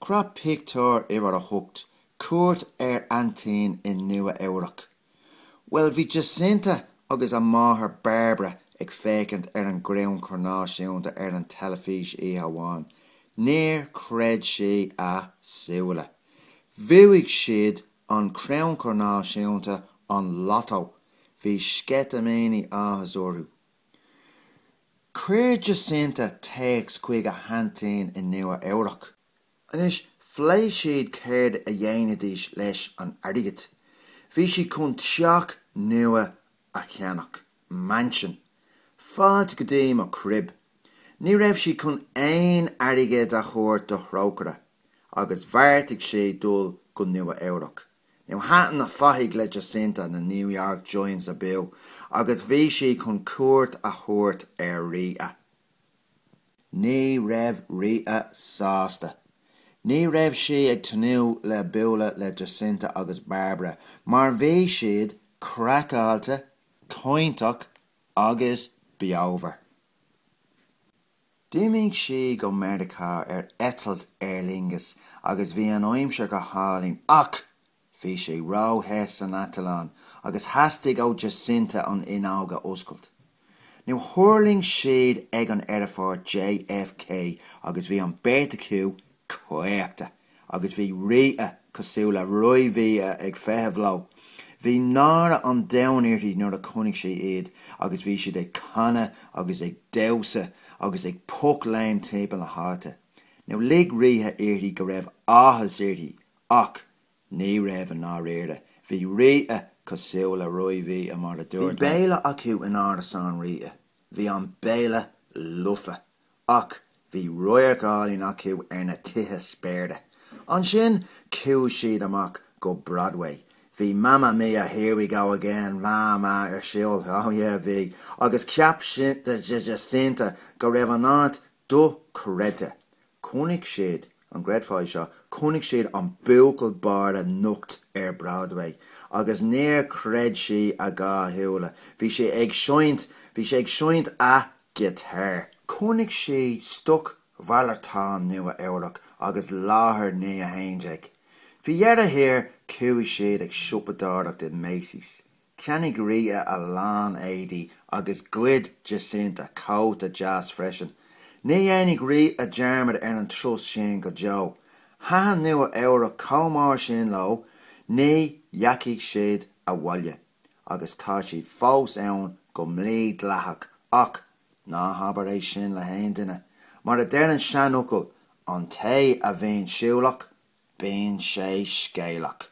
Crop pictiúr uimhir a hocht, cuairt ar aintín in Nua Eabhrac. Bhuel, bhí Jacinta agus a máthair Bairbre ag féachaint ar an gcrannchur náisiúnta ar an teilifís oíche amháin. Níor chreid siad a súile. Bhuaigh siad an crannchur náisiúnta, an Lotto! Bhí sceitimíní áthais orthu. Cuir Jacinta téacs chuig a haintín in Nua Eabhrac. Anois, phléigh siad céard a dhéanfaidís leis an airgead. Bhí siad chun teach nua a cheannach, mansion. Fáilte go dtí mo crib. Ní raibh siad chun aon airgead a thabhairt do Thrócaire, agus bheartaigh siad dul go Nua Eabhrac. Now thaitin na fathaigh le Jacinta na New York Giants abú agus bhí sí chun cuairt a thabhairt ar Rita. Ní raibh Rita sásta. Ní raibh sí ag tnúth le bualadh le Jacinta agus Bairbre mar bhí siad craiceáilte, cainteach agus beomhar. D'imigh siad go Meiriceá ar eitilt Aer Lingus agus bhí an aimsir go hálainn ach bhí sé ró-the san eitleán agus theastaigh ó Jacinta an fhuinneog a oscailt. Now thuirling siad ag an aerfort JFK agus bhí an beirt acu caochta agus bhí Rita cosúil le Roimh-Rita ag feitheamh leo. Bhí náire an domhain uirthi nuair a chonaic sí iad agus bhí siad ag canadh agus ag damhsa agus ag pocléim timpeall na háite. Now lig Rita uirthi go raibh áthas uirthi ach ní raibh i ndáiríre. Bhí Rita cosúil le Roimh-Rita mar a dúirt mé. Bhí béile acu in árasán Rita. Bhí an béile lofa. Ach bhí radharc álainn acu ar na tithe spéire. Ansin chuaigh siad amach go Broadway. Bhí Mamma Mia, here we go again, my my ar siúl, oh yeah bhí, agus cheap Jacinta go raibh an áit dochreidte. Chonaic siad, an gcreidfeá é seo, chonaic siad an buachaill bó lomnocht ar Broadway agus níor chreid sí a dhá shúile. Bhí sé ag seinnt, bhí sé ag seinnt a. Ghiotár. Chonaic siad stocmhalartán Nua Eabhrac agus láthair naoi a haon déag. Faoi dheireadh thiar, chuaigh siad ag siopadóireacht i Macy's. Cheannaigh Rita a lán éadaí agus ghoid Jacinta cóta deas freisin. Ní dhéanfaidh Rita dearmad ar an turas sin go deo. Thaitin Nua Eabhrac chomh mór sin leo, ní dheachaigh siad abhaile. agus tá siad fós ann go mídhleathach ach ná habair é sin le haon duine. Mar a deir an seanfhocal, an té a bhíonn siúlach, bíonn sé scéalach.